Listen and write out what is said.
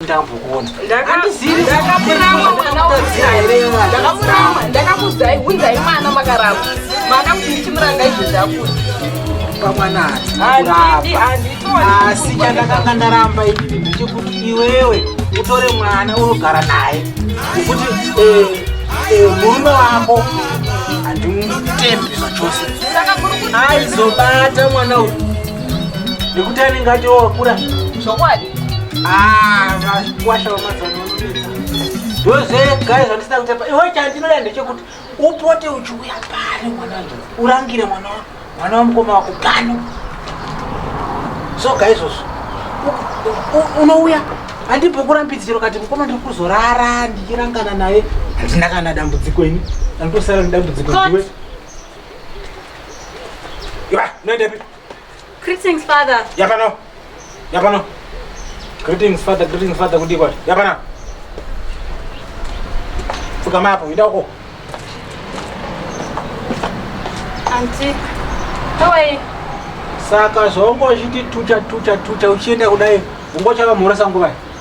ndambokuona ndakakurama mwana ndakakurama ndakakudzai hunzai mwana makarama mwana kuti ndichimuranga izvo zvakuti pamwana asi chandakanga ndaramba inini ndechekuti iwewe utore mwana unogara naye kuti eh, eh, murume wako handimutembi zvachose aizobata mwana uyu nekuti anenge ati wakura Ah, vakwasha vamazana vanonetsa. Ndoze guys vandisina kutepa. Iwe chandinoda ndechekuti upote uchiuya pano mwana wangu. Urangire mwana wangu. Mwana wamukoma wako pano. So guys also. Unouya handipo kurambidziro kati mukoma ndiri kuzorara ndichirangana naye handina kana dambudziko ini andosara nedambudziko ndiwe iwa noendepi Greetings father. Yapano. Yapano. Greetings father, greetings father kudi kwati. Yapana. Fuka mapo ida uko. Auntie. How are you? Saka zvongo zviti tucha tucha tucha uchienda kudai ungochava mhoresa nguva.